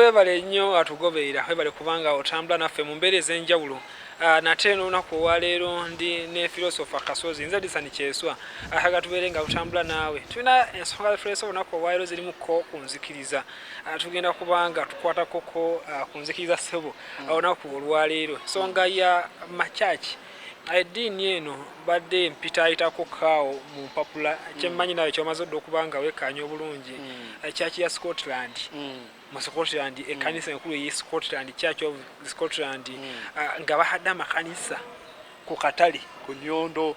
Webale nnyo atugoberera, webale kubanga otambula naffe mu mbeera ez'enjawulo. Ah, nate n'olunaku olwaleero ndi ne philosopher Kasozi, nze Disani Kyeswa, ayaga tubeere nga tutambula naawe. Tulina ensonga zitulese olunaku olwaleero zirimu ko ku nzikiriza, ah, tugenda kubanga tukwatako ko ah, ku nzikiriza ssebo olunaku olwaleero, nsonga ya makyaki Eddiini eno mbadde mpitaayitako kaawo mu mpapula. Kye mmanyi naawe ky'omaze odda okuba nga wekkaanya obulungi, Church ya Scotland. Mu Scotland, ekkanisa enkulu ey'e Scotland, Church of Scotland, nga bahadde amakanisa ku katale, ku nnyondo.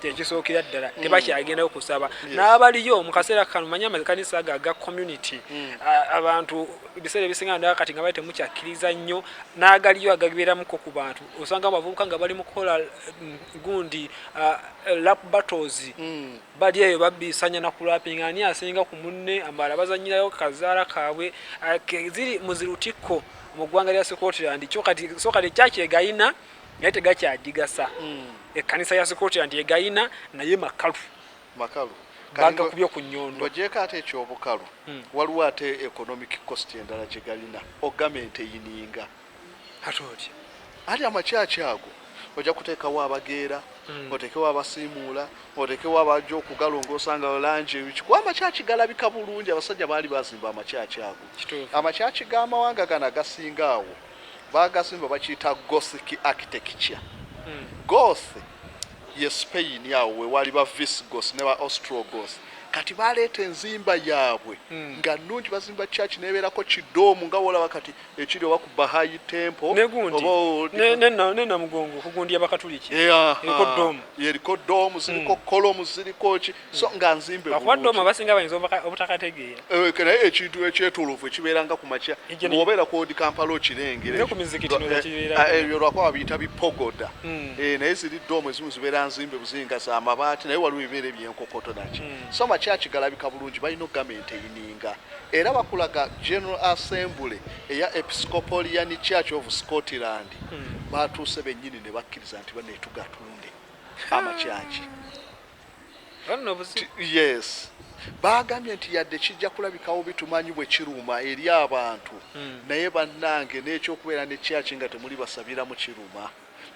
kyekisookera ddala mm. tebakyagendayo kusaba n'abaliyo mu kaseera kano manye amakanisa ago aga community mm. abantu ebiseera ebisinga ndaa kati nga bali temukyakkiriza nnyo n'agaliyo agabeeramuko ku bantu osanga abavubuka nga bali mu kukola mm, gundi lap battles bali eyo babisanya na kulapinga ani asinga ku munne amala bazanyirayo kazaala kaabwe ziri muzirutikko mu ggwanga lya scotland so kati ekyakyegalina naye tegakyagigasa hmm. ekkanisa ya scotland egayina naye makalu makalu bagakubye ku nyondo ogyeko ate ekyobukalu hmm. waliwo ate economic cost endala gyegalina ogamenti eyininga ate otya ali amakyaki ago ojja kuteekawo abageera hmm. otekewo abasiimuula otekewo abajja okugalongoosa nga langi ebikikuba amakyaki galabika bulungi abasajja baali bazimba amakyaki ago amakyaki g'amawanga gano agasinga awo Baagazimbibwa bakiyita Gothic architecture. Goth ye Spain awo we waali ba Visigoths ne ba Ostrogoths. Kati baaleeta enzimba yaabwe nga nnungi, bazimba church n'ebeerako kidoomu nga w'olaba kati ekiri oba ku Baha'i Temple Ne gundi, oba ne, ne, na, ne Namugongo ku gundi y'Abakatuliki, eriko doomu. Eriko doomu, ziriko columns, ziriko ki. so nga nzimbe bakuwadde omu abasinga bayinza obutakategeera eh, naye ekintu ekyetolovu ekibeeranga ku makya obeera kwodi kampala okirengerebyo lwakuba babiyita bipogoda hmm. eh, naye ziri doomu ezimu zibeera nzimbe buzinga za mabaati naye waliwo ebibeera ebyenkokoto naki hmm. so makyaki galabika bulungi balina ogamenti eyininga era bakulaga general assembly eya episcopalian church of scotland hmm. batuuse bennyini ne bakkiriza nti banetugatunde amakyaki yes baagambye nti yadde kijja kulabikawo bitumanyi bwe kiruma eri abantu hmm. naye bannange n'ekyokubeera ne kyaki nga temuli basabira mu kiruma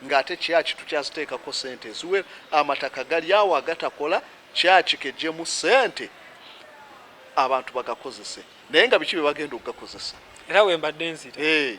ng'ate kyaki tukyaziteekako sente eziwera amataka gali awo agatakola kyaki kejjemu sente abantu bagakozese naye nga biki bye bagenda okugakozesa era wembadde nzira eh.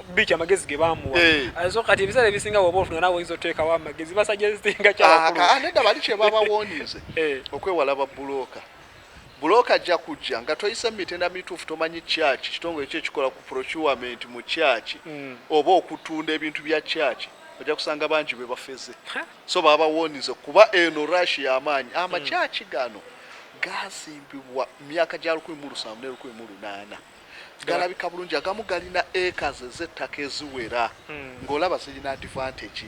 biiki amagezi ge baamuwa eh. ah, so kati ebiseera ebisinga woba ofuna nawe oyinza oteekawo amagezi basajesitinga kyabakulu ah, ah, nedda bali kye babawonize eh. okwewala babbulooka bulooka ajja kujja nga toyise mu mitenda mituufu tomanyi kyaki kitongole ki ekikola ku procurement mu kyaki hmm. oba okutunda ebintu bya kyaki ojja kusanga bangi bwe bafeze so babawonize kuba eno rush y'amaanyi amakyaki hmm. gano gazimbibwa myaka gya lukumi mu lusanvu ne lukumi mu lunaana galabika bulungi agamu galina acres ezettaka eziwera hmm. ng'olaba zirina advantage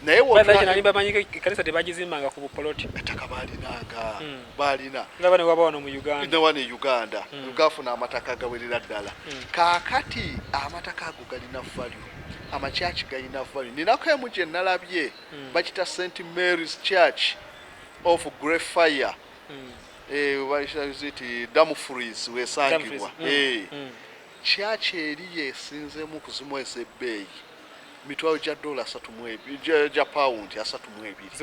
naye wbamanyikanisa tebagizimbanga ku bupoloti ettaka balinanga hmm. balina nabanewabawa no mu uganda newa ne uganda hmm. gafuna amataka gawerera ddala kakati amataka ago galina value amakyaki galina value ninako emu gye nalabye bakita st mary's church of grey fire Dumfries wesangibwa kyaki eri yesinzemu okuzimu ezebbeeyi mitwalo gya dola gya pawundi asatu mu ebiri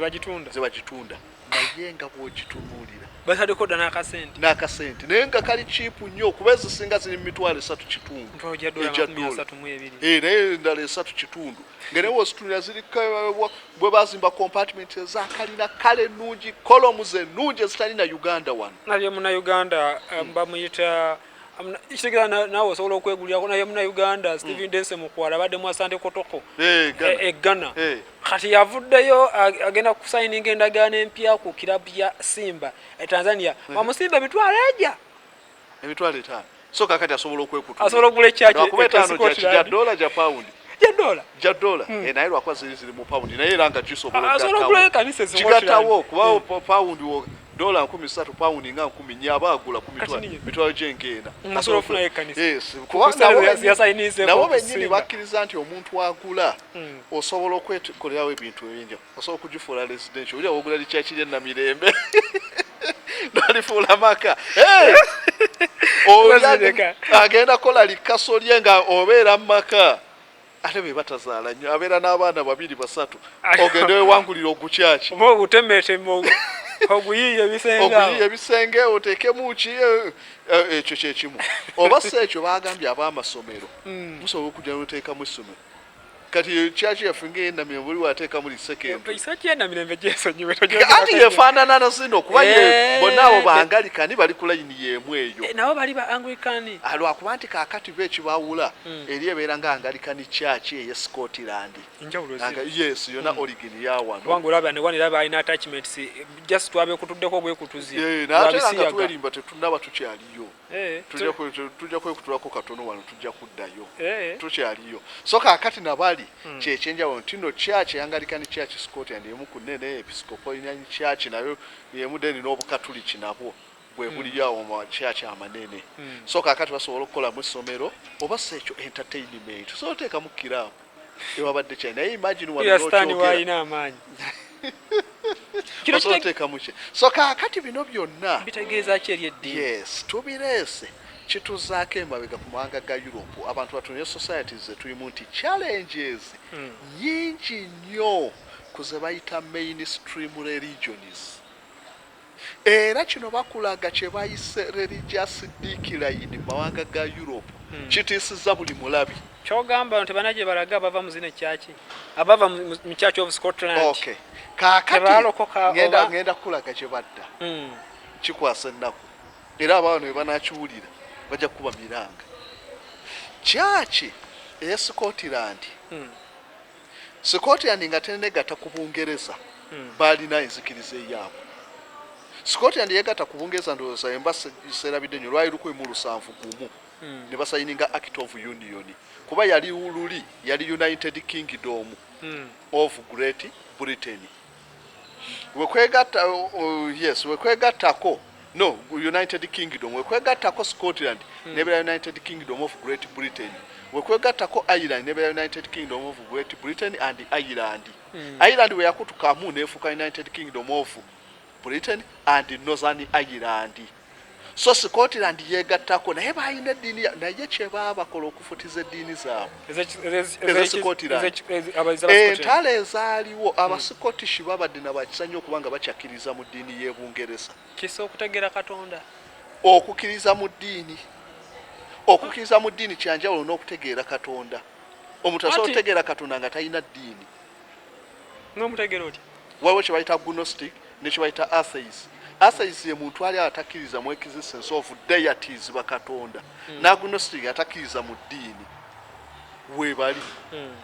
zebagitunda naye nga bwogitunuulira batadeko dda n'akasente n'akasente naye nga kali kiipu nnyo okuba ezisinga ziri mu mitwalo esatu kitundu egya dola eh, naye endala esatu kitundu ngere wositulira ziri bwe bazimba compartment eza kalina kale nungi kolomu ze nungi ezitali na uganda wano naye muna uganda eh, bamuyita kitegera naawe osobola okwegulirako naye muna uganda hmm. steven dense mukwala abadde mu asante kotoko eh, e ghana eh, kati yavuddeyo agenda kusayininga endagaano empya ku kirabu ya simba e tanzania hmm. bamusimba emitwalo egya emitwalo etaano so kakati asobola okwekuta asobola okugula ekyakuba etaano gya dola gya pawundi ja dola hmm. eh, naye lwakuba ziri ziri mu pawundi naye era nga gisobolaokigatawo kubawo hmm. pawundi dola nkumi satu pawundi nga nkumi nye aba agula ku mitwalo gyenkeena nabo benyini bakkiriza nti omuntu agula hmm. osobola okwekolerawo ebintu ebyenjawulo osobola okugifuula residential oli awogula likyaki lya namirembe nalifuula maka agenda kola likaso lye nga obeera mu maka ate be batazaala nnyo abeera n'abaana babiri basatu ogende wewangulira ogukyaki oba ogutemeteme oguyiiya ebisengeoguyiiya ebisenge oteekemu ki eh, eh, ekyo kyekimu oba si ekyo bagambye ab'amasomero hmm. musobola okujja noteekamu essomero kati kyaki yaffe ngaeyenamira buli wateekamu lisekendokati yefaanana nazino okuba eh. bonna abo bangalikani bali ku layini yeemu eyo eh, nabo bali ba anglikani ah, lwakuba nti kakati be ekibawula hmm. eri ebeera nga angalikani kyaki eye scotland yes yona hmm. origin yawanobalina attachments just twabekutuddeko ogwekutuzi eh, natenga twerimba tetunaba tukyaliyo Eh, tujja kwekutulako katono wano tujja kuddayo eh. tukyaliyo so kakati nabali hmm. kyekyenjawulo ntino kyaki eyangalika ne kyaki scotland emu ku nene episcopolinani kyaki nayo emu deni n'obukatuliki nabwo bwebuliyo hmm. awo mu kyaki amanene hmm. so kakati basobola okukolamu essomero oba si ekyo entertainment so oteekamu kiraabu tewabadde kya naye imagine wano Ira stand n'okyogera. waalina amaanyi kino Osobola kite- oteekamu ki so kaakati bino byonna bitegeeza ki eri eddiini yes tubireese kituzaako emabega ku mawanga ga europe abantu batunire societies zetulimu nti challenges Hmm. nyingi nnyo ku ze bayita mainstream religions Era kino bakulaga kye bayise religious decline mu mawanga ga Europe kitiisizza buli mulabi. Kyogamba bano tebalina gyebalaga abava mu zino church abava mu church of Scotland okay. Kakati ngenda ngenda kulaga gye badda mm. kikwasa ennaku era abaana bwe banakiwulira bajja kukuba miranga church eye Scotland mm. Scotland nga tenegatta ku Bungereza baalina enzikiriza eyaabwe. Scotland yeegatta ku Bungereza ndowooza ye mba serabidde nnyo lwali lukumi mu lusanvu gumu ne basayininga Act of Union kuba yali luli yali United Kingdom of Great Britain. wekwegatta uh, yes wekwegattako no united kingdom wekwegattako scotland hmm. nebera united kingdom of great britain wekwegattako ireland nebera united kingdom of great britain and ireland hmm. ireland weyakutukamu nefuuka united kingdom of britain and northern ireland so scotland yegattako naye balina eddiini naye kyebaabakola okufutiza eddiini zaabweentalo eh, ezaaliwo hmm. abascottish babadde nabakisanyo okuba nga bakyakkiriza mu ddiini y'ebungereza kisa okutegera katonda okukkiriza mu ddiini okukkiriza mu ddiini kyanjawulo n'okutegeera katonda omuntu asobola okutegeera katonda nga talina ddiini n'omutegera otya waliwo kye bayita agnostic ne kye bayita atheist atheist ye muntu ali atakkiriza mu existence of deities bakatonda hmm. ne agnostic atakkiriza mu ddiini webali hmm.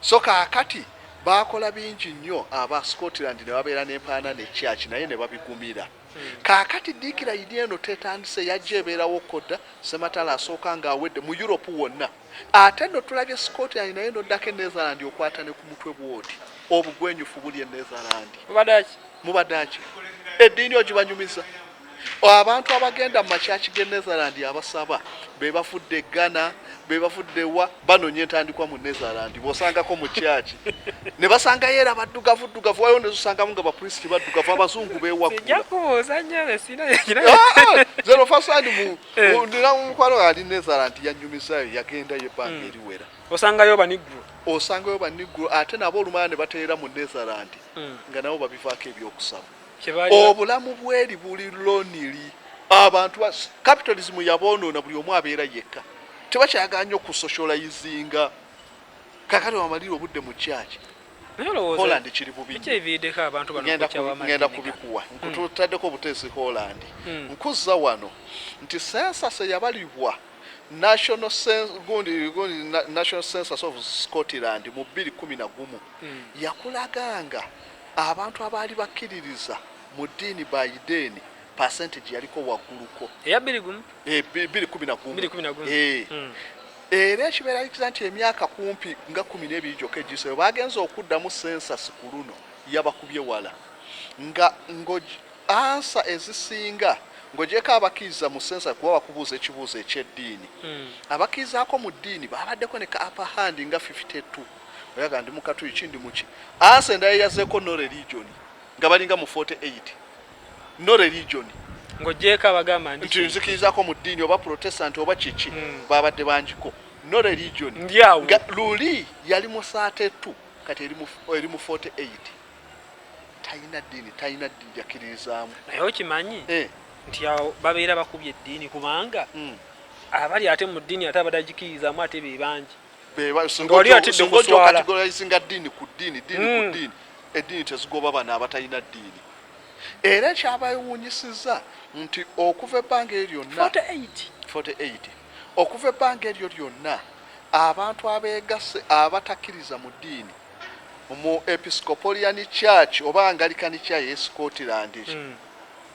so kaakati baakola bingi nnyo aba scotland ne babeera n'empaana ne kyaki naye ne babigumira hmm. Kaakati Dick layini eno tetandise, yajja ebeerawo ko dda, Ssematalo asooka nga awedde, mu Europe wonna. Ate nno tulabye Scotland naye n'oddako e Netherland okwata ne ku mutwe bw'oti. Obugwenyufu buli e Netherland. Mubadde ki? Mubadde ki? Eddiini ogibanyumiza? Abantu abagenda mu makyaki g'e Netherland abasaba be bavudde e Ghana, be bavudde wa? banonya entandikwa mu netherland bosangako mu kyaki ne basangayo era baddugavu ddugavu waliwo nezosangamu nga bapulisiti baddugavu abazungu bewakulaomukwano ah, ah, eh. ali netherland yanyumisayo yagendayo ebbanga hmm. eriwera osangayo baniggulo osangayo baniggulo ate nabo olumala ne bateera mu netherland hmm. nga nabo babivaako ebyokusaba obulamu bweri buli lonili abantu capitalism yabonoona buli omu abeera yekka tebakyagala nyo ku socializinga kakati wamalira obudde mu kyaki holland kiri bubigenda kubikuwa hmm. nkututaddeko obuteesi holland hmm. nkuzza wano nti sensas eyabalibwa national sense gundi gundi national census of Scotland mu 2011 mm. yakulaganga Abantu abaali bakkiririza mu ddiini bayideeni percentage yaliko wagguluko eya bbiri gumu eh, bbiri kumi na gumu eh. hmm. era ekibeeralikiriza nti emyaka kumpi nga kumi n'ebiri gyokka egiseyo bagenza okuddamu sensasi ku luno yabakubye wala nga ngo ansa ezisinga ng'ogyeko abakkiriza mu sensa kuba bakubuuza ekibuuzo eky'eddiini hmm. abakkirizaako mu ddiini baabaddeko ne ka apahandi nga 52 oyagala ndi mukatuyi ki ndi muki ansa endala yazeko no religion nga balinga mu 48 no religion ng'ogyeko abagamba nti nzikirizako mu ddiini oba protestant oba kiki hmm. babadde bangiko no religion ndyawo luli yali mu 32 kati eri mu 48 talina ddiini talina ddiini jakiririzaamu naye okimanyi eh. nti awo babeera bakubye eddiini kubanga hmm. abali ate mu ddiini ate abadagikirizamu ate be bangi wali atidde kuswala ddiini ku ddiini ddiini ku hmm. ddiini eddiini tezigoba bana abatalina ddiini era ekyabayewuunyisizza nti okuva ebbanga eryo lyonna 48 okuva ebbanga eryo lyonna abantu abeegasse abatakkiriza mu ddiini mu episcopalian church oba angalikani kya ye scotland hmm.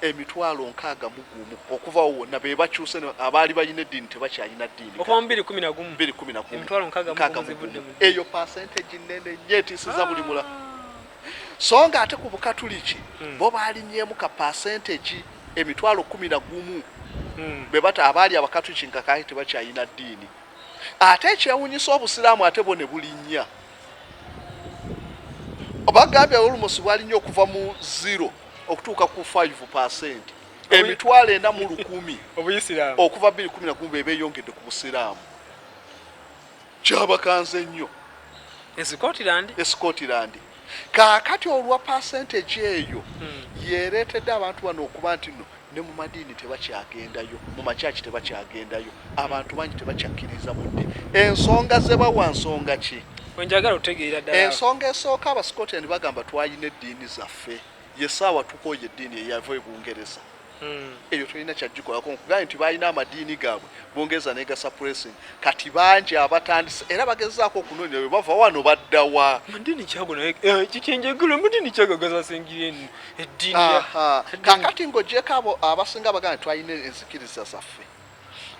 emitwalo nkaaga mu gumu okuvawo wonna be bakyuse abaali balina eddiini tebakyalina ddiini okuva mu biri kumi na gumu biri kumi na gumu emitwalo nkaaga mu gumu eyo pasenteji nnene nnyo etiisiza buli mula so nga ate ku bukatuliki hmm. bo baalinyeemu ka pasenteji emitwalo kumi na gumu hmm. be bata abaali abakatuliki nga kaali tebakyalina ddiini ate ekyewunyisa obusiraamu ate bo ne bulinnya bagambye olumusi bwalinnya okuva mu zero okutuuka ku 5 percent emitwalo ena mu lukumi obuyisiraamu okuva 211 bebeyongedde ku busiraamu kyabakanze nnyo escotland escotland kaakati olwa percentage eyo hmm. yereetedde abantu bano okuba nti no ne mu madiini tebakyagendayo, mu makyaki tebakyagendayo, abantu bangi tebakyakkiriza mu ddi. Ensonga ze bawa nsonga ki? Wenjagala otegeera ddala. Ensonga esooka Abascotland bagamba twalina eddiini zaffe, ye saawa tukooye eddiini eyava e Bungereza. Hmm. Eyo tulina kyagikolako nkugaye nti balina amadiini gaabwe Bungereza negasa pressing kati bangi abatandise era bagezaako okunoonya bwe bava wano baddawa. Amadiini kyago naye eh, kikinjegula amadiini kyagagaza singireni. kakati ng'ogyeko abo abasinga bagana twalina enzikiriza zaffe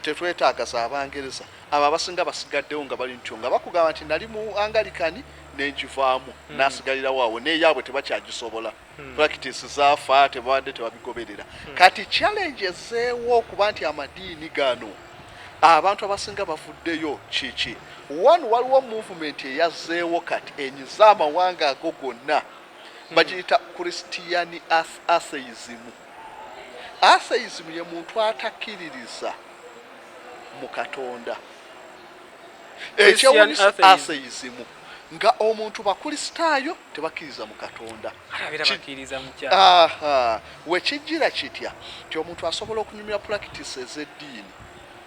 tetwetaaga za bangereza abo abasinga basigaddewo nga bali ntyo nga bakugamba nti nali mu angalikani nenjivaamu hmm. nasigalirawo awo neyaabwe tebakyagisobola hmm. practice zafa tebabadde tebabigoberera hmm. kati challenge ezeewo okuba nti amadiini gano abantu abasinga bavuddeyo kiki one waliwo movement eyazeewo kati enyiza amawanga ago gonna bagiyita christian atheism atheism ye muntu atakiririza mu katonda ekyewunyisa atheism nga omuntu bakristaayo tebakkiriza mu katonda wekijjira kitya nti omuntu asobola okunyumira practice ez'eddiini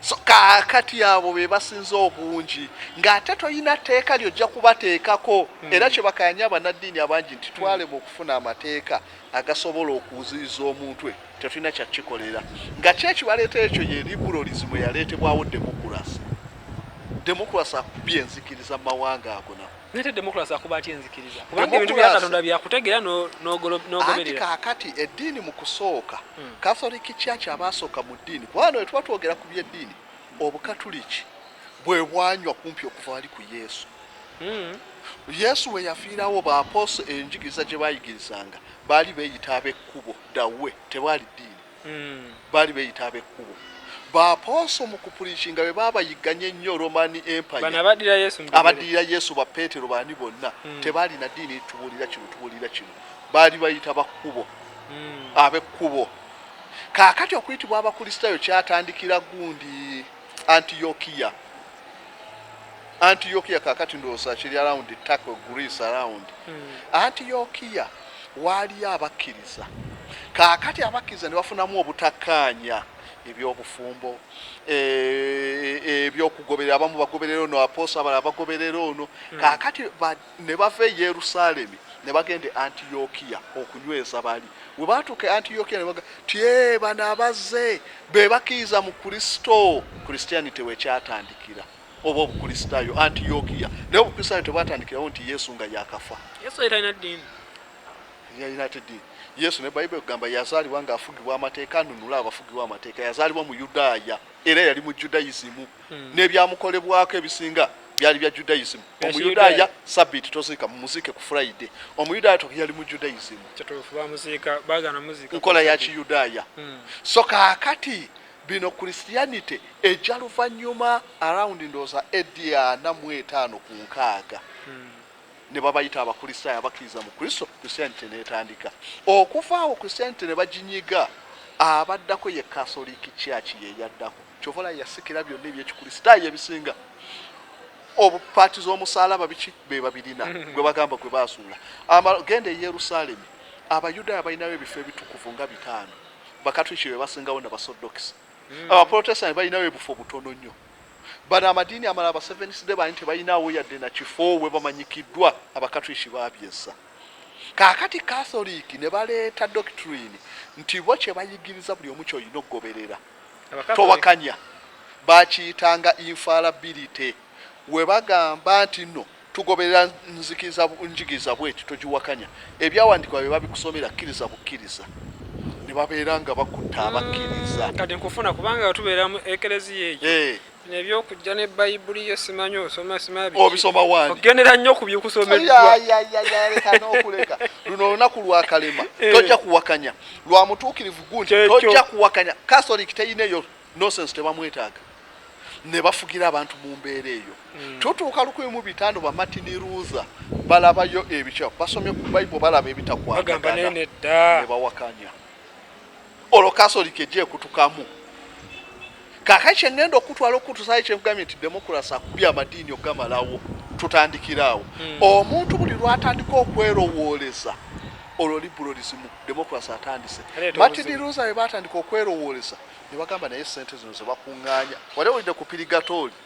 so kakati abo be basinza obungi ng'ate tolina tteeka lyojja kubateekako hmm. era kye bakanya abanaddiini abangi nti twalema okufuna amateeka agasobola okuziyiza omuntu e tetulina kyakikolera nga ki ekibaleeta ekyo ye liberalism eyaleetebwawo demokurasi demokurasi akubye enzikiriza mu mawanga agona nate democracy akuba atya enzikiriza kubanga ebintu bya katonda byakutegeera n'ogoberera kaakati eddiini mu kusooka hmm. catholic church abaasooka mu ddiini kubanga we tuba twogera ku byeddiini obukatuliki bwe bwanywa kumpi okuva wali ku yesu hmm. yesu we yafiirawo baaposo enjigiriza gye bayigirizanga baali beeyita ab'ekkubo dawe tebwali ddiini hmm. baali beyita abekkubo bapooso mu kupulikinga be baabayigganya ennyo romani empayaabaddirira yesu bapeetero baani bonna hmm. tebaalina ddiini tubuulira kino tubuulira kino baali bayita bakkubo hmm. abekkubo kaakati okuyitibwa abakristaayo kyatandikira gundi Antiokia Antiokia kakati ndowooza kiri around Turkey Greece around hmm. Antiokia waaliyo abakkiriza kakati abakkiriza ne bafunamu obutakkaanya ebyobufumbo e, e, ebyokugoberera abamu bagoberera ono apoosa abala bagoberera ono hmm. kakati Ne bava e Yerusaalemi ne bagenda e Antiyokiya okunyweza bali. Bwe baatuuka e Antiyokiya ne baga ti, Ee, bano abazze be bakkiriza mu Kristo. Christianity we kyatandikira, oba Obukristaayo, Antiyokiya. Naye Obukristaayo tebwatandikirawo nti Yesu nga yaakafa. Yesu yali talina ddiini. Yalina ate ddiini. Yesu ne Bayibuli ekugamba yazaalibwa ng'afugibwa amateeka, anunule abafugibwa amateeka. Yazaalibwa Muyudaaya era yali mu Judaism. hmm. n'ebyamukolebwako ebisinga byali bya judaism omuyudaaya sabiti toziika mumuziike ku friday omuyudaaya to yali mu judaism nkola ya kiyudaaya hmm. so kaakati bino christianity eja luvannyuma around ndooza edi ana mu etaano ku nkaaga hmm. ne babayita abakristaayo abakkiriza mu kristo christianity netandika okuvaawo christianity ne baginyiga abaddako ye catholic church yeyaddako Kyova olaba yasikira byonna ebyekikulisitaayo ebisinga obu paati z'omusaalaba biki be babirina mm-hmm. gwe bagamba gwe baasuula genda e yerusaalemi abayudaaya balinayo ebifo ebitukuvu nga bitaano bakatwiki be basingawo na basoddokisi mm. abaprotestanti balinayo ebufo butono nnyo bano amadiini amala abasevenisde bani tebalinawo yadde na kifo we bamanyikiddwa abakatwiki babyezza kaakati katholiiki ne baleeta doctrine nti bo kye bayigiriza buli omu kyolina okugoberera towakanya bakiyitanga infalability webagamba nti no tugoberera nzikiza njigiriza bweti togiwakanya ebyawandikibwa bye babikusomera kkiriza bukkiriza ne babeera nga bakutta abakkiriza mm, kati nkufuna kubanga tubeera mu ekereziya eyo eh. nebyokujja ne bayibuli yo simanyi osoma simabisobisomawanogendera nnyo kubyikusomeddwanokuleka luno olunaku lwakalema eh. tojja kuwakanya lwa mutuukirivu gundi tojja kuwakanya catholic teyina eyo nosense tebamwetaaga ne bafugira abantu mu mbeera eyo hmm. tutuuka lukumi mu bitaano bamatini ruza balabayo ebikyamu basomye ku baibo balaba ebitakwagagana ne bawakanya olwo kasoli kegyekutukamu kakati kyengenda okutwala okutusayo kyekugambye nti demokurasi akubye amadiini okugamalawo tutandikiraawo hmm. omuntu buli lwatandika okwerowooleza olwo liberalism demokurasi atandise martin lusa we batandika okwerowooleza ne bagamba naye sente zino zebakuŋŋaanya wali owulidde ku pirigatooli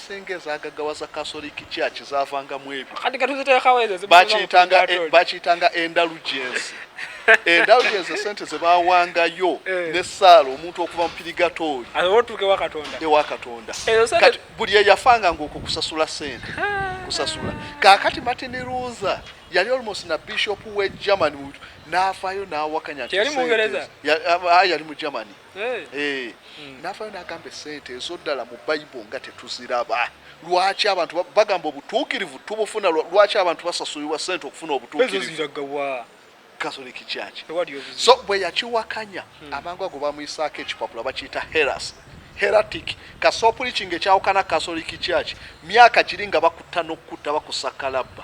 Senga ezagagawaza Catholic Church zavangamu ebyo. Kati katuzitekawo ezo bakiyitanga e, bakiyitanga indulgence. Indulgence sente ze bawangayo eh. ne sala omuntu okuva mu pirigatori. Awotuke wa Katonda. E wa Katonda. Kati buli eyafanga ngoko kusasula sente. Kusasula. Kakati Martin Luther yali almost na bishop we Germany nafayo nawakanya. Yali mu Ngereza. Yali mu Germany. Eh. Eh. Hmm. nafayo nagamba esente ezoddala mu bible nga tetuziraba lwaki abantu bagamba obutuukirivu tubufuna lwaki abantu basasulirwa sente okufuna obutuukirivuso bwe yakiwakanya hmm. amangu ago bamuyisaako ekipapula bakiyita heras heratic kasopulikinga ekyawukana kasoliki kyaki myaka kiri nga bakutta nokukutta bakusakalabba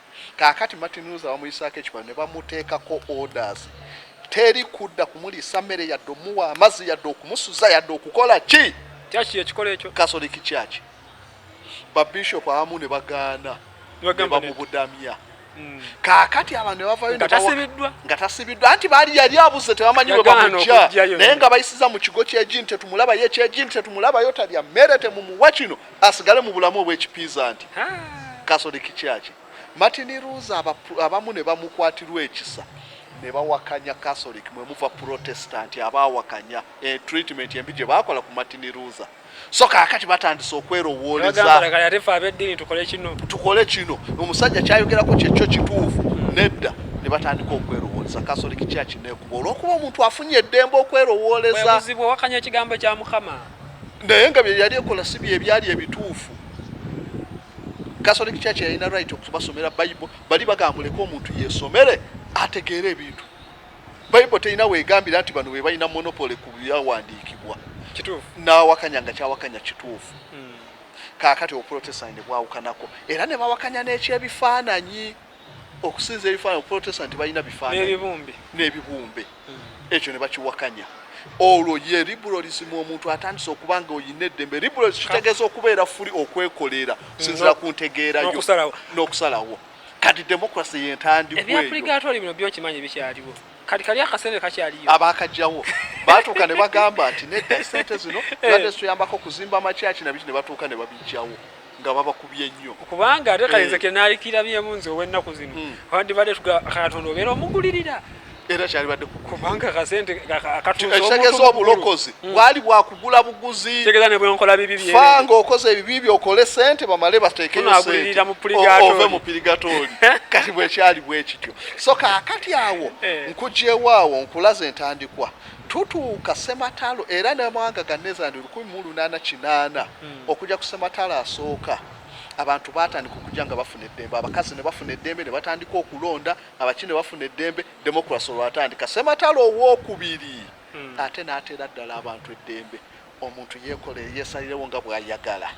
Kaakati Martin Luther bamuyisaako ekibalo ne bamuteekako orders. Teri kudda kumuliisa mmere yadde omuwa amazzi yadde okumusuza yadde okukola ki? Kyaki ekikola ekyo? Catholic Church. Ba Bishop abamu ne bagaana ne bamubudamya. Hmm. Kaakati abantu ne bavayo nga tasibiddwa anti baali yali abuze tebamanyi bwe bamujja naye nga bayisiza mu kigo ky'ejini tetumulabayo eky'ejini tetumulabayo talya mmere temumuwa kino asigale mu bulamu obw'ekipiizanti Catholic Church. Martin Luther aba, abamu ne bamukwatirwa ekisa ne bawakanya Catholic mwe muva Protestant abaawakanya e, treatment embi gye baakola ku Martin Luther. So kaakati batandise okwerowooleza tukole kino omusajja kyayogerako kyekyo kituufu hmm. nedda ne batandika okwerowooleza Catholic Church nekuba olwokuba omuntu afunye eddembe okwerowooleza. Bwe buzibwa wakanya ekigambo kya Mukama. naye nga bye yali ekola si bye byali ebituufu catholic church yalina right okubasomera bible bali bagambuleko omuntu yesomere ategeere ebintu bible terina wegambira nti bano bebalina monopole ku byawandiikibwa nawakanya nga kyawakanya kituufu hmm. kakati oprotestant bwawukanako era nebawakanya n'ekyebifaananyi okusinza ebifaananyi okuprotesta nti balina bifaananyi n'ebibumbe hmm. ekyo ne bakiwakanya olwo ye liberalism omuntu atandise okuba nga olina eddembe liberalism kitegeeza okubeera fuli okwekolera sinzira ku ntegeera yo n'okusalawo kati democracy yentandikwa eyo ebyapuligatori bino byokimanyi bikyaliwo kati kali akasente kakyaliyo abakajjawo batuuka ne bagamba nti nedda sente zino eh. badde zituyambako okuzimba amakyaki nabiki ne batuuka ne babijjawo nga babakubye nnyo kubanga ate kale nze eh. kenaalikirabyemu nze ow'ennaku zino hmm. wandibadde katonda obeera omugulirira era kyalibadde kubanga kasente akatuusaekitegeeza obulokozi hmm. bwali bwakugula buguzi tegeza ne bwenkola bibi bye fa ng'okoze ebibi bye okole sente bamale bateekeyoagulirira mu puligatove mu pirigatori kati bwekyali bwekityo so kaakati awo eh. nkugyewo awo nkulaze entandikwa Tutuuka ssematalo era n'amawanga ga Netherland lukumi mu lunaana kinaana okujja ku ssematalo asooka abantu baatandika okujja nga bafuna eddembe, abakazi ne bafuna eddembe ne batandika okulonda, abaki ne bafuna eddembe, demokulasi olwatandika. Ssematalo owookubiri ate n'ateera ddala abantu eddembe omuntu yeekolere yeesalirewo nga bw'ayagala.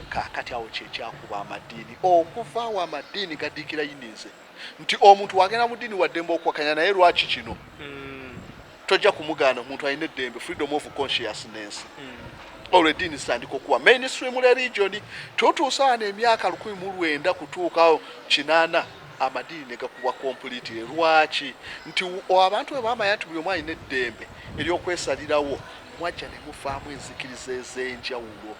Kaakati awo kye kyakuba amadiini okuva awo amadiini gadiikira yinze. nti omuntu wagenda mu ddiini waddembe okuwakanya naye lwaki kino hmm. tojja kumugaana omuntu alina eddembe freedom of consciousness hmm. olwo eddiini zitandika okuwa mainstream religion tutuusaana emyaka lukumi mu lwenda kutuukawo kinaana amadiini negakubwa complete lwaki nti abantu bwe bamanya nti buli omu alina eddembe eryokwesalirawo mwajja ne mufaamu enzikiriza ez'enjawulo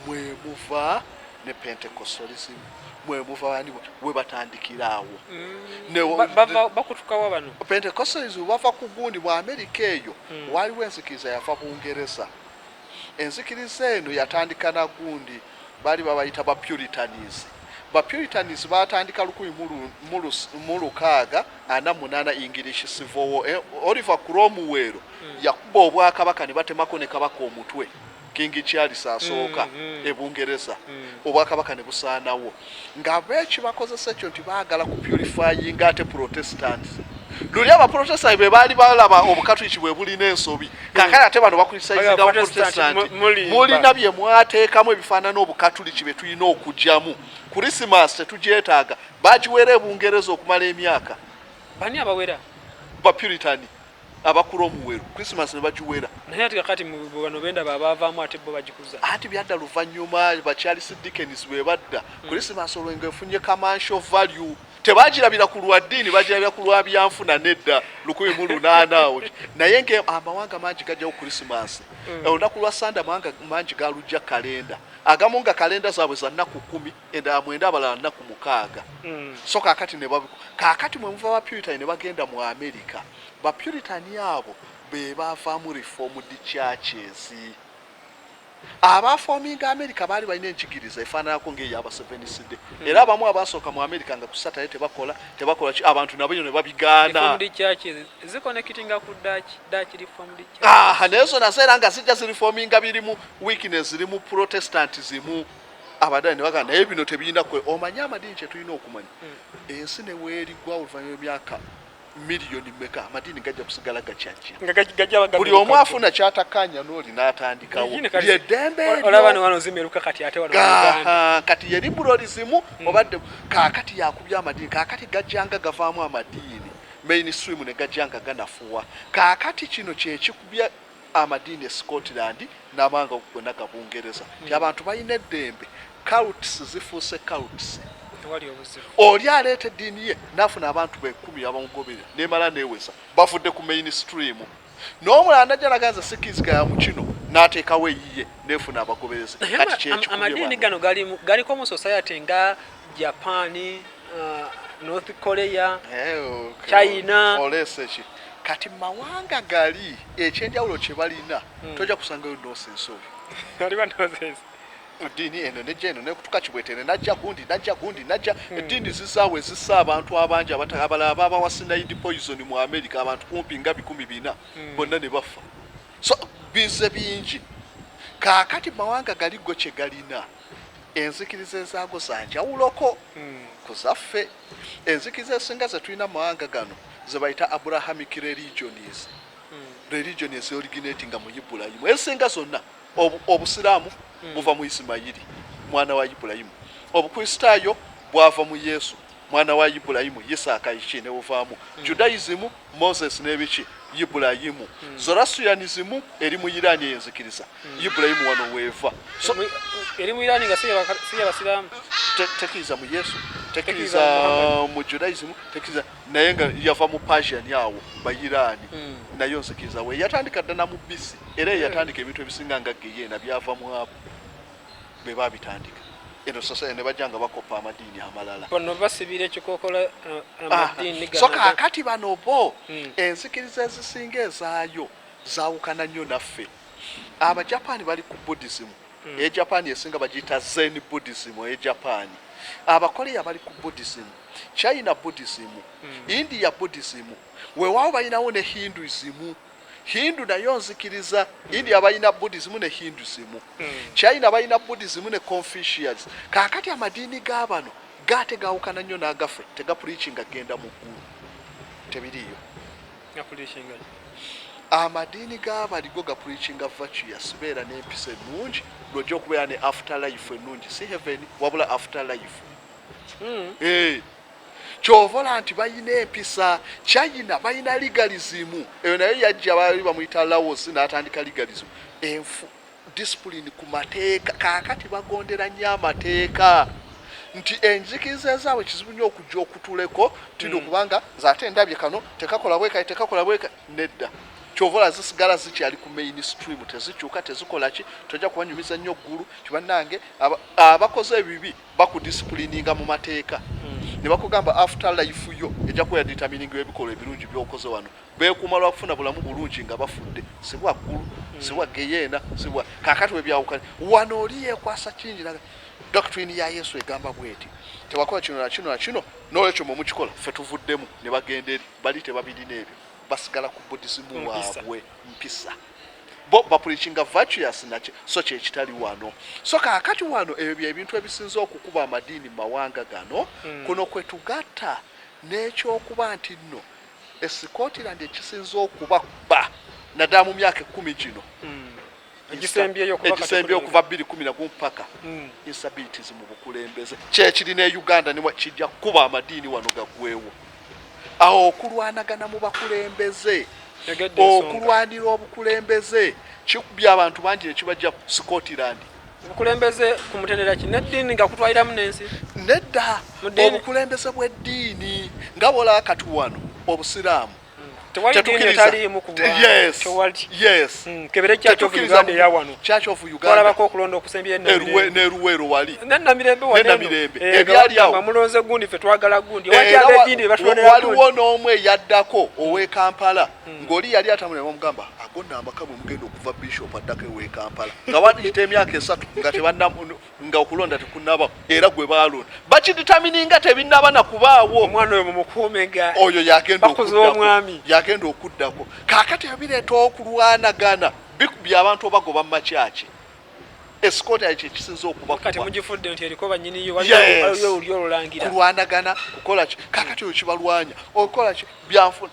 mwemuva ne pentecostalism mwemuva bani webatandikira awo mm. bakutukawa bano pentecostalism bava ku gundi mu amerika eyo mm. waliwo enzikiriza yava bungereza enzikiriza eno yatandika na gundi baali babayita ba puritanis ba puritanis batandika lukumi mu lukaaga ana munana english civil war eh, oliver cromwell mm. yakuba obwakabaka ne batemako ne kabaka omutwe mm. King Charles asooka mm, mm. e Bungereza mm. obwakabaka ne busaanawo nga beekibakozesa ekyo nti baagala ku purifying ate protestants luli abaprotestant be baali balaba obukatuliki bwe bulina ensobi kakale ate bano bakulisaizinga abaprotestant mulina bye mwateekamu ebifaanana obukatuliki be tulina okugyamu krisimas tetugyetaaga bagiweera ebungereza okumala emyaka bani abawera bapuritani abakula omuweru christmas ne bagiwera naye ati kakati mu bano bendaba abaavaamu ate bo bagikuza anti byadda luvannyuma bakyalisi dickens bwe badda hmm. christmas olwo nga efunye kamansho value tebagirabira ku lwa ddiini bagirabira ku lwa byanfuna nedda lukumi mu lunaana awo naye nga amawanga mangi gajjawo christmas hmm. olunaku lwa sande amawanga mangi galujja kalenda agamu nga kalenda zaabwe za nnaku kumi eda mwenda abalala naku mukaaga mm. so kakati ne babu kakati mwe muva ba puritan ne bagenda mu america ba puritan abo be bavamu reformed churches abafoominga america baali balina enkigiriza efaananako ngaeyo abaseveniside mm. era abamu abaasooka mu america nga kusatale tebakola tebakola ki abantu nabo ne babigaana naye zona zeera nga zijja zirifoominga birimu weakness zirimu protestant zimu abadani ne bagamba naye bino tebiyina kwe omanye amadiini kye tulina okumanya mm. ensi ne weerigwa oluvannyuma emyaka miliyoni meka amadiini gajja kusigala gakyakibuli omu afuna kyatakanya n'oli n'atandikawo lyedembeekati yeribulo lizimu mm. obadde kaakati yakubya amadiini kaakati gajjanga gavaamu amadiini mainstream ne gajjanga ganafuwa kaakati kino kyekikubya amadiini e Scotland namawanga gona ga Bungereza nti hmm. abantu balina eddembe cults zifuuse cults oli aleeta eddiini ye nafuna abantu bekumi abamugoberera nemala neweza bavudde ku main stream n'omulala najja naganza sikiizika ya mukino n'ateekawo eyiye nefuna abagoberezi kati kyekikuamadiini gano galiko mu society nga japan uh, north korea hey, eh, okay. china oleseki kati mawanga gali ekyenjawulo kyebalina hmm. toja kusangayo dosi nsobi eddiini eno nejja eno nekutuka kibwetere najja gundi najja gundi najja hmm. eddiini zizaawo ezisa abantu abangi abalala babawasinaidi poison mu america abantu kumpi nga bikumi bina hmm. bonna ne baffa so bize bingi kaakati mawanga galiggo kye galina Enzikiriza ezaago za njawuloko ku zaffe. Enzikiriza ezisinga ze tulina mu mawanga gano ze bayita Abrahamic religions, religion ezioriginatinga mu Ibulayimu. Ezisinga zonna, obu, Obusiraamu buva mu Isimayiri, mwana wa Ibulayimu. Obukristaayo bwava mu Yesu, mwana wa Ibulayimu, Yisaaka, Iki ne uvaamu mm. Judaism, Moses n'ebiki Ibulayimu mm. Zoroastrianism eri mu Iran eyo enzikiriza mm. Ibulayimu wano weeva so, eri mu Iran nga si yabasiraamu tekiriza mu Yesu tekiriza mu Judaism tekiriza naye nga yava mu Persian awo ba Iran mm. nayo nzikiriza we yatandika ddana mu bisi era yeyatandika ebintu ebisinga nga geyeena byava mu abo be babitandika eno sasaya ne bajja nga bakoppa amadiini amalala bano basibira ekikokola eh, ah, amadiini so kakati bano bo hmm. enzikiriza ezisinga ezaayo zawukana nnyo naffe abajapani bali ku buddhism hmm. eye japan esinga bagiyita zen buddhism eye japan abakoreya bali ku buddhism china buddhism hmm. india buddhism wewawo balinawo ne hinduism mm. Hindu nayo nzikiriza India balina Buddhism ne Hinduism. Hmm. China balina Buddhism ne Confucius. Kakati amadiini ga bano gaate gawukana nnyo n'agaffe tegapuliikinga genda mu ggulu. Tebiriiyo. Amadiini ga bali go gapuliikinga virtuous beera n'empisa ennungi lwojja okubeera ne after life ennungi si heaven wabula after life. Mm. Hey. Eh. kyovola nti bayina empisa china bayina legalism eyo nayo yajja bali bamuyita laos natandika legalism enfu discipline ku mateeka kakati bagondera nnyo amateeka nti enjigiriza ezaabwe kizibu nyo okujja okutuleko tino mm. kubanga nze ate ndabye kano tekakola bwekati tekakola bweka nedda kyovola zisigala zikyali ku main stream tezikyuka tezikolaki tojja kubanyumiza nnyo ggulu kibanange abakoze ebibi bakudisipulininga mu mateeka ne bakugamba after life yo ejja kuba yaditamininga ebikolwa ebirungi byokoze wano beekuuma lwa kufuna bulamu bulungi nga bafudde si bwa ggulu si bwa geyeena si bwa kaakati we byawukanye wano oli yeekwasa kingi naga doctrine ya yesu egamba bweti tewakola kino na kino na kino n'olwekyo mwe mukikola ffe tuvuddemu ne bagenda eri bali tebabirina ebyo basigala ku budisimu waabwe mpisa bo bapulikinga virtuous naki so kyekitali wano so kakati wano ebyo byebintu ebisinza okukuba amadiini mumawanga gano mm. kuno kwetugatta nekyokuba nti nno esikotirandi ekisinza okuba kuba naddala mu myaka ekumi gino mm. egisembyeyo okuva bbiri kumi nagu mpaka mm. insabilities mu bukulembeze kyekiri ne uganda kijja kukuba amadiini wano gagwewo mm. awo okulwanagana mu bakulembeze okulwanira obukulembeze kikubya abantu bangi nekibajja scotland obukulembeze ku mutendera ki neddiini nga kutwaliramu n'ensi nedda obukulembeze bw'eddiini nga bwolaba kati wano obusiraamu neruwero wali nemirembeebyaliawomulonze eh, gundi fe twagala gundi waliwo n'omu eyaddako hmm. owe kampala hmm. ng'oli yali atamulema omugamba agonda amaka bwe mugenda okuva bishop addako ewe kampala nga wandiyita emyaka esatu nga nga okulonda tekunaba era gwe balonda bakiditamininga tebinaba na kubaawo omwana oyo mumukuumenga oyo yagendaomwami yagenda okuddako kakati ebireeta okulwanagana bikubya abantu obagoba mumakyaki esikooti ayo kyekisinza okubakulwanagana kukolaki kakati oyo kibalwanya okukolaki byanfuna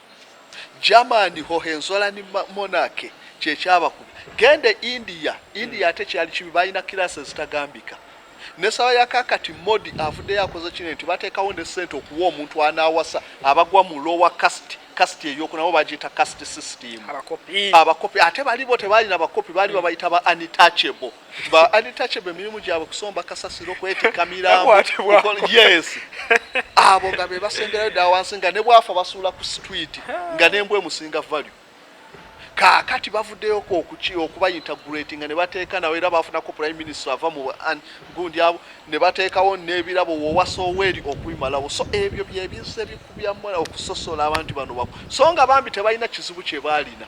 German Hohenzollern monarchy kye kyabakubya. Genda e India, India ate kyali kibi, balina kiraasi ezitagambika. Ne saba ya kakati Modi avuddeyo akoze kino nti bateekawo ne ssente okuwa omuntu anaawasa abagwa mu lower caste kasiti eyoku nabo bagiyita kasiti system abakopi ate balibo tebaalina bakopi baali babayita ba untouchable ba untouchable emirimu gyabwe kusomba kasasiro kwetikka mirambo yes abo nga be basemberayo dda wansi nga ne bwafa basuula ku street nga nembwa emusinga value kaakati bavuddeyoko okuki okubayinta great nga ne bateeka nawe era baafunako prime minister ava mu gundi abo ne bateekawo n'ebirabo wowasa oweeri okubimalawo so ebyo byebizze bikubyamu okusosola abantu bano bako so nga bambi tebalina kizibu kye baalina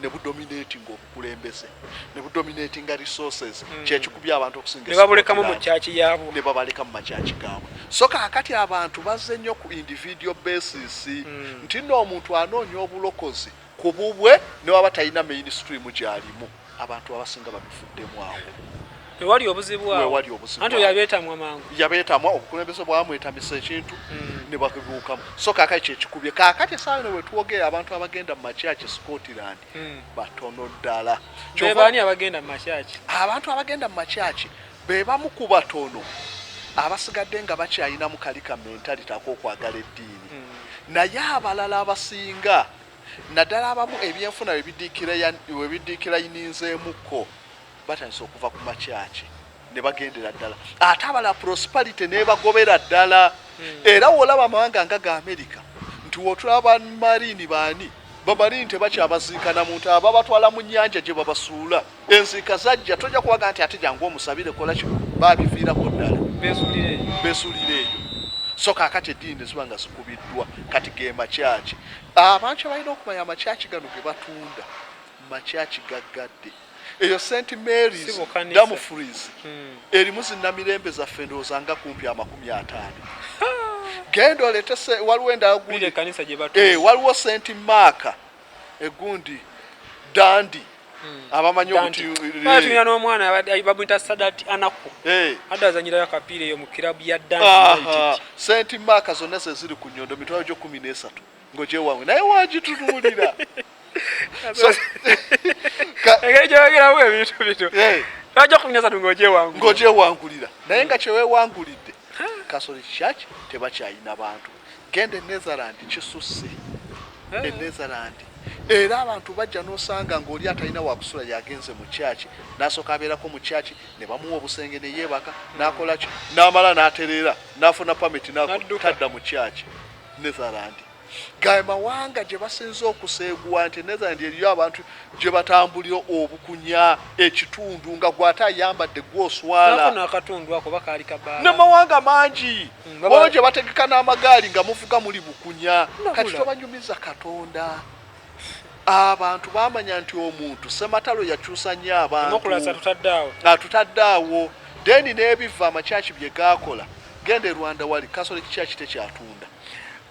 ne budominatinga obukulembeze ne budominatinga resources mm. kyekikubya abantu okusinga ne babulekamu mu kyaki yaabwe ne babaleka mu makyaki gaabwe so kaakati abantu bazze nnyo ku individual basis mm. nti nno omuntu anoonya obulokozi ku bubwe ne waba talina mainstream gyalimu abantu abasinga babifuddemu awo wewali obuzibu wewali obuzibu anti yabetamwa mangu yabetamwa obukulembeze bwamwetamisa ekintu mm. ne bakibuukamu so kaka ekyo ekikubye kakati esaawa eno wetwogera abantu abagenda mu makyaki scotland mm. batono ddala bebani abagenda mu makyaki abantu abagenda mu makyaki bebamu ku batono abasigadde nga bakyayinamu kali ka mentality akokwagala eddiini mm. naye abalala abasinga naddala abamu ebyenfuna webidikira yininzeemukko batandise okuva ku makyaki ne bagendera ddala ate abala prosperity nebagobera ddala hmm. era wolaba amawanga nga ga amerika nti wotula bamarini baani bamarini tebakyabaziikana muntu ababatwala mu nyanja gye babasuula enziika zajja tojja kuwaga nti ate jangu omusabire kola kino babiviirako ddala besulira eyo so kakati eddiini neziba nga zikubiddwa kati ge makyaki abantu abalina okumanya amakyaki gano ge batunda makyaki gaggadde eyo st marys damfries hmm. erimu zinamirembe zaffe ndowooza nga kumpi amakumi ataano genda olete waliwo endaguli eh, waliwo st marka egundi dandi hmm. abamanyi obutuina eh. n'omwana bamwita sadat anaku eh. adde azanyirayo akapiira eyo mu kirabu ya dandi st marka zonna zeziri ku nyondo mitwalo gyo kumi n'esatu ngoje wange naye wagitunuulira engeri gyeyogeramu ebintu bino lwajja okunyasa tu ngogyewangulira naye nga kyewewangulidde kasoli church tebakyayina bantu genda enetherland kisusse enetherland era abantu bajja nosanga ngaoli atalina wakusula yagenze mu kyaki nasooka abeerako mu kyaki ne bamuwa obusenge neyeebaka nakolaki namala natereera nafuna pamiti tadda mu kyaki Netherland gaye mawanga gye basinze okuseeguwa nti Netherland eriyo abantu gye batambulira obukunya ekitundu nga gwate ayambadde gwoswala ne mawanga mangi hmm, olwo gye bategeka n'amagaali nga muvuga muli bukunya kati tobanyumiza katonda Abantu bamanya nti omuntu sematalo yakyusa nnyo abantu atutadde awo deni n'ebiva amakyaki bye gaakola genda e Rwanda wali kasole kikyaki tekyatunda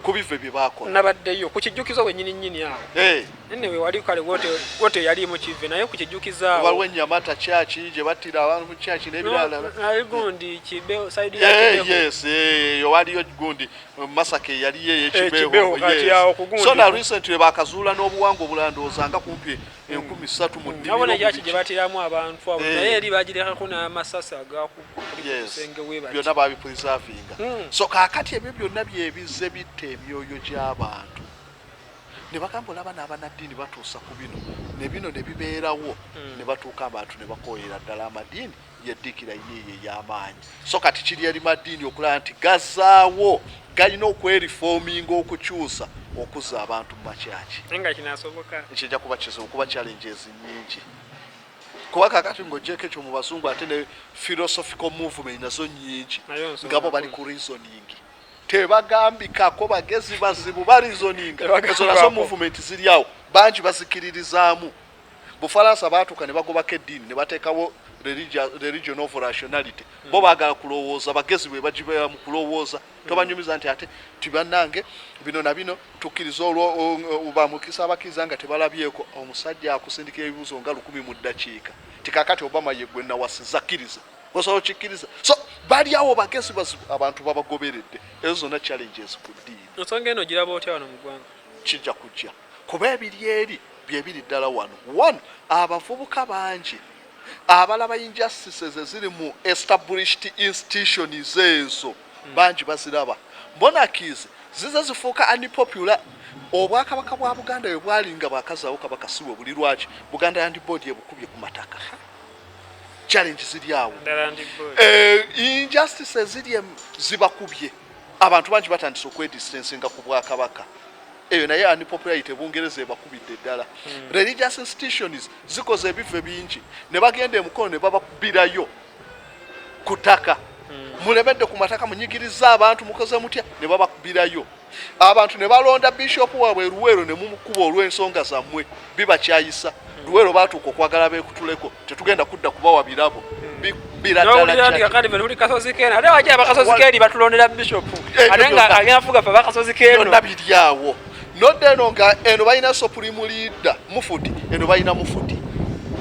ku bive bye baakola nabaddeyo ku kijjukizo wenyini nyini awo eh. nne we wali kale wote yali mu kive naye ku kijjukizo awo waliwo ennyamata kyaki gye battira abantu mu kyaki n'ebirala naye gundi kibe saidi ya eh, kibe yes eh, yo waliyo gundi Masaka eyaliyo eyekibeho so na recently bakazuula n'obuwangwa obulala ndowooza nga kumpi enkumi ssatu mu nnimiro yaki gye batiramu abantu abo eh. naye eri bagirekako n'amasasi agakukusenge webati byonna babiprisavinga hmm. so kakati ebyo byonna byebizze bitta emyoyo gy'abantu ne bagamba olaba n'abanaddiini batuusa ku bino ne bino ne bibeerawo hmm. ne batuuka abantu ne bakooyera ddala amadiini yeddikira yiiyo ey'amaanyi so kati kiri eri maddiini okulaba nti gazaawo galina okwerifoominga okukyusa okuzza abantu mu makyaki kijja kuba kizibu kuba challenges nyingi kuba kakati ngaogyeko ekyo mu bazungu ate ne philosophical movement nazo nyingi ngabo bali ku reasoning tebagambikako bagezi bazibu barizoninga ezo nazo movement ziri awo bangi bazikiririzaamu Bufalansa baatuuka ne bagobako eddiini ne bateekawo religion of rationality mm. bo baagala kulowooza bagezi bwe bagibeera mu kulowooza mm. tobanyumiza nti ate ti bannange bino na bino tukkiriza olwobamukisa abakkiriza nga tebalabyeko omusajja akusindikira ebibuuzo nga lukumi mu ddakiika tikakati obama yegwe nawasiza kkiriza osobola okikkiriza so bali awo bagezi bazibu abantu babagoberedde ezo zonna challenges ku ddiini ensonga eno giraba otya wano mu ggwanga kijja kujja kuba ebiri eri byebiri ddala wano one abavubuka bangi abalaba injustices eziri mu established institutions ezo hmm. bangi baziraba monarchies zize zifuuka unpopular obwakabaka bwa buganda bwe bwalinga bwakazaawo kabaka siwe buli lwaki buganda yandi boodi ebukubye ku mataka challenge ziri awo eh, injustices ziri zibakubye Abantu bangi batandise okwedistansinga ku bwakabaka eyo naye ani popularity bungereza ebakubidde ddala hmm. religious institutions zikoze ebive bingi ne bagenda emukono ne bababirayo ku ttaka hmm. mulemedde ku mataka munyigiriza abantu mukoze mutya ne babakubirayo abantu ne balonda bishopu waabwe eruweero ne mumukuba olw'ensonga zammwe bibakyayisa luwero batuuka okwagala bekutuleko tetugenda kudda kubawa birabo birabiryawo nodda eno nga eno balina supreme leader mufuti eno balina mufuti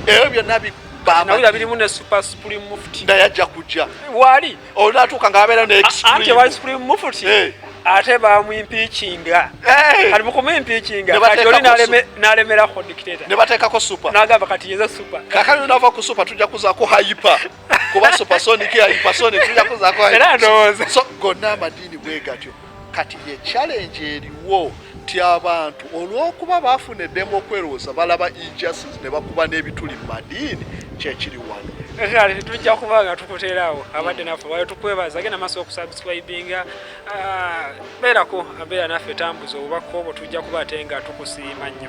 ebyo byonna birimu ne super supreme mufuti naye ajja kujja wali olwatuuka nga abeera ne anti wa supreme mufuti eh. ate bamwimpikinga eh. kati mukumwimpikinga kati oli nalemerako dictator ne bateekako super nagamba kati yeza super kakati nava ku super tujja kuzaako hyper kuba supersonic hypersonic tujja kuzaako era ndowooza so gonna amadiini bwegatyo kati ye challenge eriwo nti abantu olw'okuba baafuna eddembe okwerowooza balaba injustice ne bakuba n'ebituli mu madiini kyekiri wano tujja kuba nga tukuteeraawo abadde naffe wayo tukwebaza agenda maaso okusubscribinga ah, beerako abeera naffe tambuza obubaka obwo tujja kuba ate nga tukusiima nnyo